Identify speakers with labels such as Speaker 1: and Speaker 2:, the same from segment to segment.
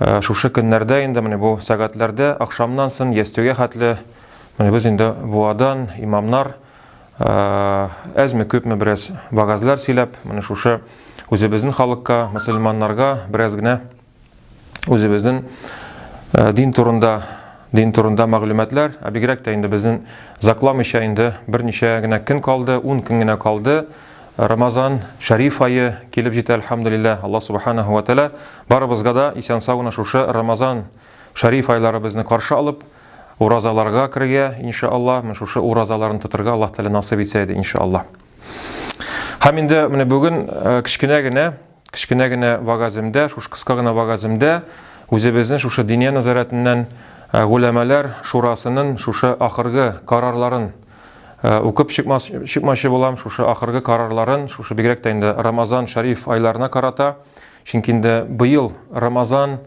Speaker 1: Ә, шушы көннәрдә инде менә бу сәгатьләрдә ахшамнан сон ястүгә хәтле менә без инде буадан имамнар әзме күпме бераз вагазлар сөйләп, менә шушы үзебезнең халыкка, мөселманнарга бераз генә үзебезнең дин турында дин турында мәгълүматлар, ә бигрәк тә инде безнең закламыйча инде берничә генә көн калды, 10 көн генә калды. Рамазан, Шәриф айы килеп җитә, әлхәмдулилләһ, Аллаһ Субханәһү вә Тәгалә барыбызга да исән-сау гына шушы Рамазан, Шәриф айлары безне каршы алып, уразаларга керергә, иншааллаһ, менә шушы уразаларны тотырга Аллаһ Тәгалә насыйп итсә иде, иншааллаһ. Һәм инде менә бүген кечкенә генә Кечкенә генә вагаземдә, шушы кыска гына вагаземдә үзебезнең шушы Диния назаратыннан гуләмәләр шурасының шушы ахыргы карарларын укып чыкмас, чыкмачы булам, шушы ахыргы карарларын, шушы бигрәк тә инде Рамазан Шариф айларына карата, чөнки инде быел Рамазан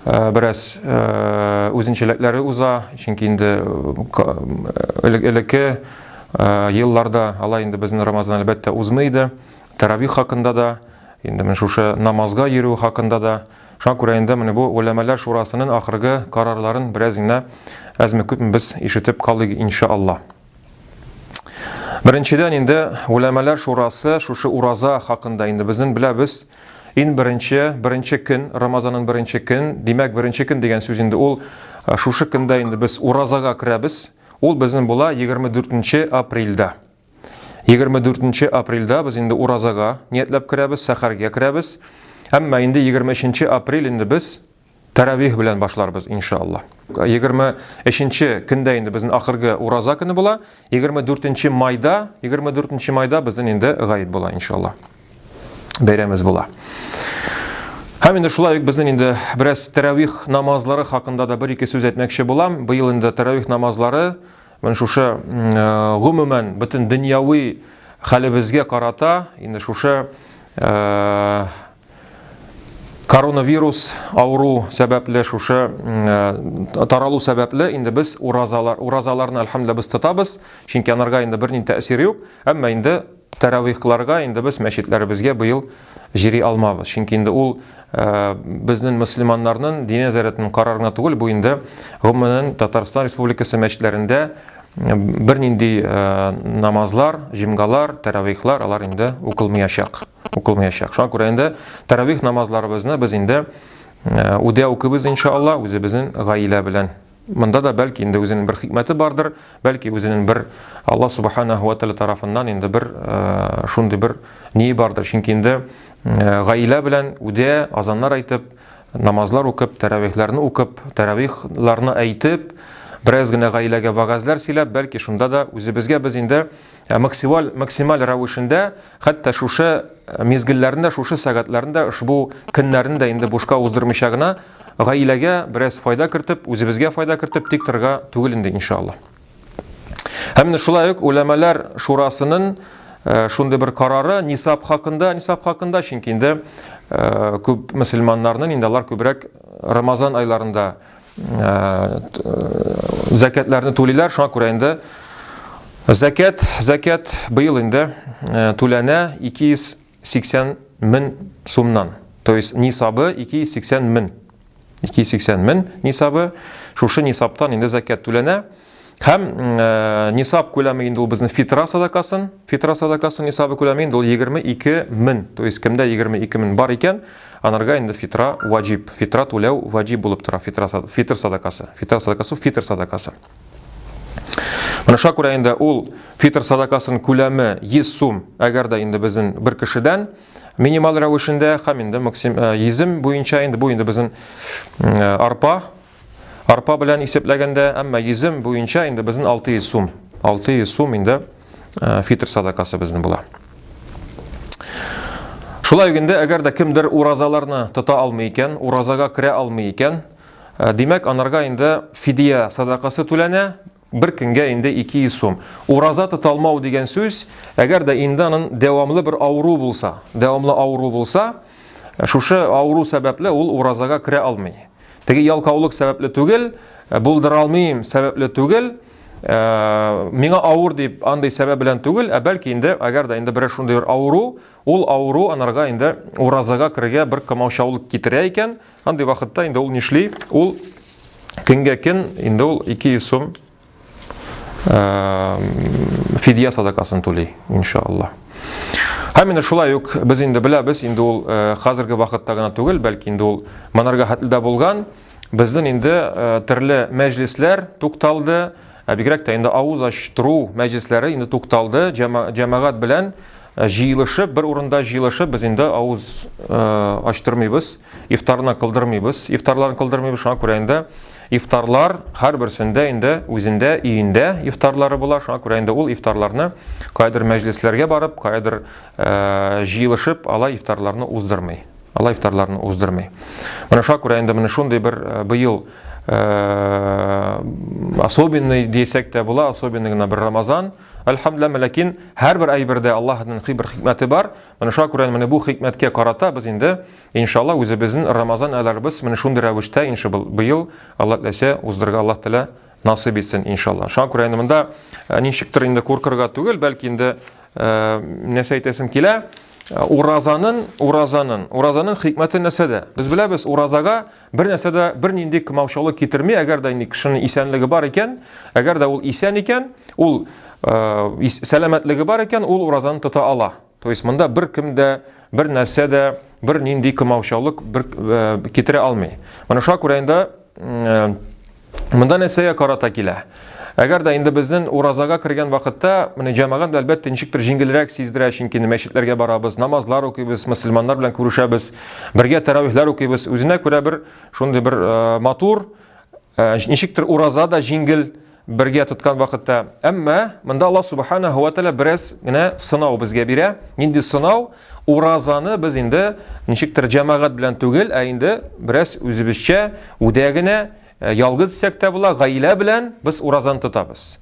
Speaker 1: Э, бераз э, үзенчәлекләре уза, чөнки инде э, элекке елларда алай инде безнең Рамазан әлбәттә узмый иде. Тәравих хакында да, инде менә шушы намазга йөрү хакында да, шуңа күрә инде менә бу Гөләмәләр шурасының ахыргы карарларын бераз генә әзме-күпме без ишетеп калыйк, инша Алла. Беренчедән инде Гөләмәләр шурасы шушы ураза хакында инде безнең беләбез, ин беренче, беренче көн, Рамазанның беренче көн, димәк, беренче көн дигән сүз инде ул шушы көндә инде без уразага керәбез, ул безнең була 24 апрельдә. 24 нче апрельдә без инде уразага ниятләп керәбез, сәхәргә керәбез. Әмма инде 23 нче апрель инде без тәравих белән башларбыз, иншалла. 23 нче көндә инде безнең ахыргы ураза көне була, 24 нче майда, 24 нче майда безнең инде гаид була, иншалла. Бәйрәмебез була. Һәм инде шулай ук безнең инде бераз тәравих намазлары хакында да бер-ике сүз әйтмәкче булам. Быел инде тәравих намазлары Менә шушы гомумән бөтен дөньяви хәлебезгә карата инде шушы коронавирус авыру сәбәпле шушы э, таралу сәбәпле инде без уразалар уразаларны әлхәмдүлилла без тотабыз чөнки анарга инде бернинди тәэсире юк әмма инде Тәравихларга инде без мәчетләребезгә быел җири алмабыз, чөнки инде ул безнен мөслиманнарнын дини нәзарәтен карар гына түгел, бу инде гомумәнен Татарстан Республикасы мәчетләрендә бернинди намазлар, җомгалар, тәравихлар алар инде укылмыячак, укылмыячак. Шуңа күрә инде тәравих намазларыбызны без инде үдә укыйбыз иншаалла үзебезнен гаилә белән. Монда да бәлки инде үзенең бер хикмәте бардыр, бәлки үзенең бер Алла субхана һуа тәлә тарафыннан инде бер э, шундый бер ние бардыр. Чөнки инде э, гаилә белән үдә азаннар әйтеп, намазлар укып, тәравихләрне укып, тәравихларны әйтеп, бераз генә гаиләгә вагазлар сөйләп, бәлки шунда да үзебезгә без инде э, максималь максималь рәвешендә Хәтта шушы мизгелләрендә, шушы сәгатьләрендә, ошбу көннәрне дә инде бушка уздырмыйча гына, гаиләгә бераз файда кертеп, үзебезгә файда кертеп тик торырга түгел инде, иншалла. Һәм менә шулай ук үләмәләр шурасының Э, шундый бер карары нисап хакында нисап хакында чөнки инде э, күп мөселманнарның инде алар күбрәк рамазан айларында зәкәтләрне түлиләр, шуңа күрә инде зәкәт, зәкәт быел инде түләнә 280 мең сумнан. То есть нисабы 280 мең. 280 мең нисабы, шушы нисаптан инде зәкәт түләнә. Һәм э, нисаб күләме инде ул безнең фитра садакасын, фитра садакасын нисабы күләме инде ул 22 мең, то есть кемдә 22 мең бар икән, анарга инде фитра ваҗиб, фитра түләү ваҗиб булып тора, фитра, фитр садакасы, фитра садакасы, фитр садакасы. Менә шуңа күрә инде ул фитр садакасын күләме 100 сум, әгәр дә инде безнең бер кешедән, минимал рәвешендә, һәм инде максим, э, йөзем буенча инде, бу инде безнең э, арпа, Арпа белән исәпләгәндә, әмма йөзем буенча инде безнең 600 сум. 600 сум инде э, фитр садакасы безнең була. Шулай ук инде әгәр дә кемдер уразаларны тота алмый икән, уразага керә алмый икән, э, димәк, анарга инде фидия садакасы түләнә, Бер көнгә инде 200 сум. Ураза тоталмау дигән сүз, әгәр дә инде анын дәвамлы бер авыру булса, дәвамлы авыру булса, шушы авыру сәбәпле ул уразага керә алмый. Теге ялкаулык сәбәпле түгел, э, булдыра алмыйм сәбәпле түгел, э, миңа авыр дип андый сәбәп белән түгел, ә бәлки инде, әгәр дә инде бер шундый бер авыру, ул авыру анарга инде уразага керергә бер комаучаулык китерә икән, Андый вакытта инде ул нишли? Ул көнгә көн инде ул 200 сум фидия садакасын түли, иншаллах. Һәм менә шулай ук без инде беләбез, инде ул хәзерге вакытта гына түгел, бәлки инде ул монарга хәтле булган. Безнең инде төрле мәҗлисләр тукталды, ә бигрәк тә инде авыз ачтыру мәҗлисләре инде тукталды, җәмәгать белән Ә җыелышып, бер урында җыелышып, без инде авыз ачтырмыйбыз, ифтарны кылдырмыйбыз, ифтарларын кылдырмыйбыз, шуңа күрә инде ифтарлар һәрберсендә инде үзендә, өендә ифтарлары була, шуңа күрә инде ул ифтарларны кайдыр мәҗлесләргә барып, кайдыр җыелышып, алай ифтарларны уздырмый. Алай ифтарларны уздырмый. Менә шуңа күрә инде менә шундый бер быел особенный дисәк тә була, особенный гына бер Рамазан. Әлхәмдләмә, ләкин һәрбер әйбердә Аллаһның хи бер хикмәте бар. Менә шуңа күрә менә бу хикмәткә карата без инде иншалла үзебезнең Рамазан айларыбыз менә шундый рәвештә инше бу быел Аллаһ теләсә уздырырга Аллаһ телә насыйп итсен иншалла. Шуңа күрә инде монда э, ничектер инде куркырга түгел, бәлки инде э, нәрсә әйтәсем килә, уразанын, уразанын, уразанын хикмәте нәрсәдә? Без беләбез, уразага Бер нәрсә дә бернинди кымаучылык китерми, әгәр дә инде кешенең исәнлеге бар икән, әгәр дә ул исән икән, ул э, сәламәтлеге бар икән, ул уразаны тота ала. То есть монда бер кем дә, бер нәрсә дә, бер нинди кымаучылык бер, э, китерә алмый. Менә шуңа күрә инде э, Монда нәрсәгә карата килә? Әгәр дә инде безнең уразага кергән вакытта, менә җәмәгат әлбәттә ничектер җиңелрәк сиздерә, чөнки мәчетләргә барабыз, намазлар укыйбыз, мусульманнар белән күрешәбез, бергә тәравихләр укыйбыз. Үзенә күрә бер шундый бер э, матур, э, ничектер ураза да җиңел бергә тоткан вакытта. Әмма монда Аллаһ субханаһу ва тааля бераз генә сынау безгә бирә. Нинди сынау? Уразаны без инде ничектер җәмәгать белән түгел, ә инде бераз үзебезчә, үдә генә, э, ялгыз исәк тә була, гаилә белән без уразаны тотабыз.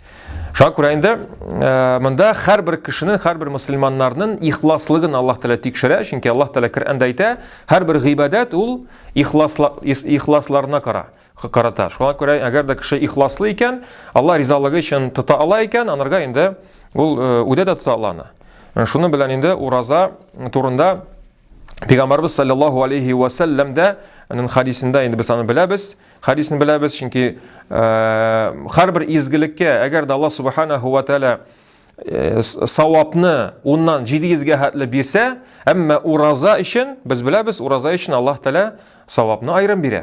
Speaker 1: Шуңа күрә инде э, монда һәрбер кешенең, һәрбер мөселманнарның ихласлыгын Аллаһ Тәгалә тикшерә, чөнки Аллаһ Тәгалә Коръәндә әйтә, һәрбер гыйбадәт ул ихласларына кара. карата. Шуңа күрә, әгәр дә кеше ихласлы икән, Алла ризалыгы өчен тота ала икән, анарга инде ул э, үдә дә тота ала аны. Э, шуның белән инде ураза турында Пәйгамбәрбез саллаллаху алейхи ва саллям да аның хадисендә инде без аны беләбез, хадисен беләбез, чөнки э, һәрбер изгелеккә, әгәр дә Алла субханаһу ва тааля Э, савапны уннан 700-гә хәтле бирсә, әмма ураза өчен, без беләбез, ураза өчен Аллаһ Тәлә савапны айрым бирә.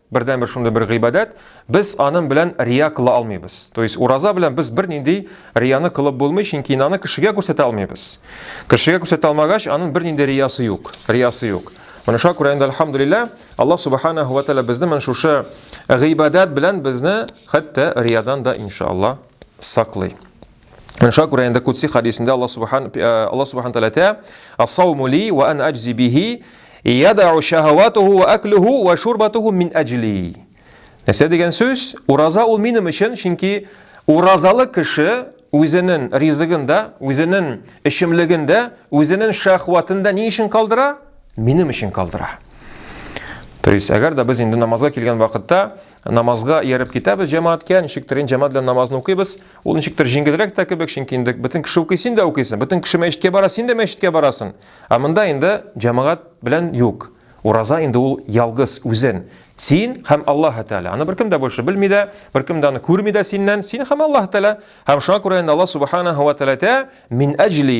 Speaker 1: Бердәнбер шундый бер гыйбадәт, без аның белән рия кыла алмыйбыз. То есть ураза белән без бер нинди рияны кылып булмый, чөнки аны кешегә күрсәтә алмыйбыз. Кешегә күрсәтә алмагач, аның бер нинди риясы юк, риясы юк. Менә шуңа күрә инде альхамдулилла, Аллаһ субханаһу ва тааля безне менә шушы гыйбадәт белән безне хәтта риядан да иншалла саклый. Менә шуңа күрә инде Кудси хадисендә Аллаһ Субхан э, Аллаһ Субхан Тәгалә әйтә: "Ас-сауму ли ва ан аҗзи бихи, ядау шахаватуху ва аклуху ва шурбатуху мин аҗли." Нәрсә дигән сүз? Ураза ул минем өчен, чөнки уразалы кеше үзенең ризыгын да, үзенең эчемлеген дә, үзенең шахватын да ни өчен калдыра? Минем өчен калдыра. То есть, әгәр дә без инде намазга килгән вакытта намазга ияреп китәбез җәмәгатькә, ничектер инде җәмәгать белән намазны укыйбыз, Ул ничектер җиңелрәк тә кебек, чөнки инде бөтен кеше укый, син дә укыйсың. Бөтен кеше мәчеткә бара, син дә мәчеткә барасың. Ә монда инде җәмәгать белән юк. Ураза инде ул ялгыз үзен. Син һәм Аллаһ Тәгалә. Аны беркем дә больше белми дә, беркем дә аны күрми дә синнән. Син һәм Аллаһ Тәгалә. Һәм шуңа күрә инде Аллаһ Субханаһу ва Тәгалә мин әҗли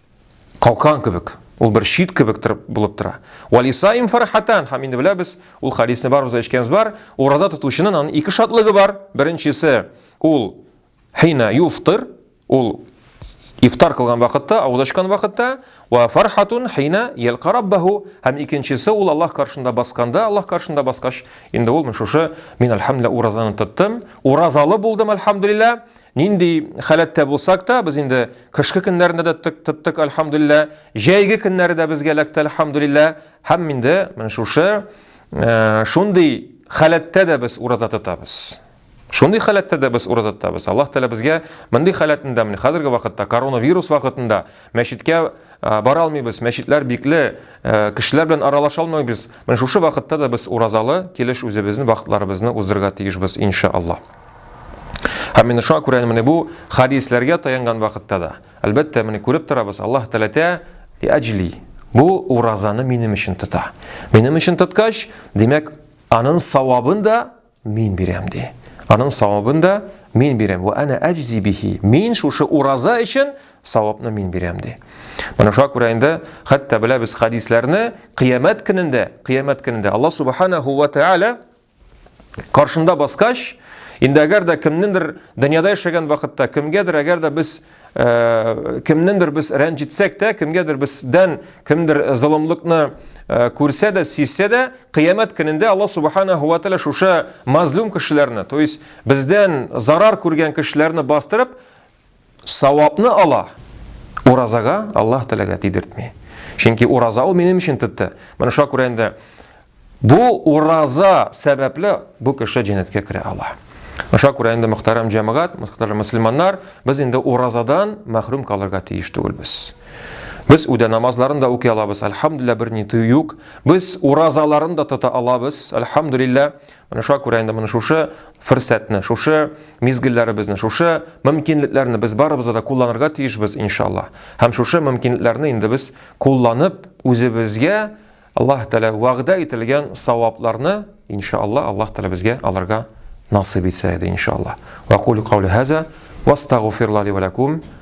Speaker 1: Калкан кебек, ул бер чит кебек торып булып тора. Валисаим фархатан, һәм инде беләбез, ул хадисне барыбыз да ишеткәнбез бар, ураза тотучының аның ике шатлыгы бар. Беренчесе, ул хина юфтыр, ул ифтар кылган вакытта, авыз ачкан вакытта, ва фархатун хина ялка раббаху, һәм икенчесе ул Аллаһ каршында басканда, Аллаһ каршында баскач, инде ул шушы мин альхамдулилла уразаны тоттым, уразалы булдым альхамдулилла, Нинди халәттә булсак та, без инде кышкы көннәрендә дә тык тыттык, альхамдулилла, җәйге көннәре дә безгә эләкте, альхамдулилла, һәм инде менә шушы э, шундый халәттә дә без ураза тотабыз. Шундый халәттә дә без ураза тотабыз. Аллаһ Тәгалә безгә мондый халәтендә, менә хәзерге вакытта коронавирус вакытында мәчеткә э, бара алмыйбыз, мәчетләр бикле, э, кешеләр белән аралаша алмыйбыз. Менә шушы вакытта да без уразалы килеш үзебезнең вакытларыбызны уздырырга тиешбез, иншаллаһ. Һәм менә шуңа күрә менә бу хадисләргә таянган вакытта да, әлбәттә, менә күреп торабыз, Аллаһ Тәләтә әҗли. Бу уразаны минем өчен тота. Минем өчен тоткач, димәк, аның савабын да мин бирәм ди. Аның савабын да мин бирәм. Ва ана әҗзи бихи. Мин шушы ураза өчен савапны мин бирәм ди. Менә шуңа күрә инде хәтта беләбез хадисләрне, кыямәт көнендә, кыямәт көнендә Аллаһ субханаһу ва тааля Каршында баскач, инде әгәр дә кемнендер дөньяда яшәгән вакытта, кемгәдер әгәр дә без э, кемнендер без рәнҗетсәк тә, кемгәдер бездән кемдер золымлыкны э, күрсә дә, сизсә дә, кыямәт көнендә Алла субханаһу ва тааля шушы мазлум кешеләрне, то есть бездән зарар күргән кешеләрне бастырып, савапны ала, уразага Аллаһ Тәгаләгә тидертми. Чөнки ураза ул минем өчен тотты. Менә шуңа күрә инде бу ураза сәбәпле бу кеше җәннәткә керә ала. Шуңа күрә инде мөхтәрәм җәмәгать, мөхтәрәм мөселманнар, без инде уразадан мәхрүм калырга тиеш түгелбез. Без үдә намазларын да укый алабыз, альхамдулилла, берни тыю юк. Без уразаларын да тота алабыз, альхамдулилла. Менә шуңа күрә инде менә шушы фөрсәтне, шушы мизгелләребезне, шушы мөмкинлекләрне без барыбыз да кулланырга тиешбез, иншалла. Һәм шушы мөмкинлекләрне инде без кулланып, үзебезгә Аллаһ Тәгалә вәгъдә ителгән савапларны, иншалла, Аллаһ Тәгалә безгә алырга насыйп итсә иде, иншалла. Ва кулю каули хаза, ва астагфируллаһи ва лакум.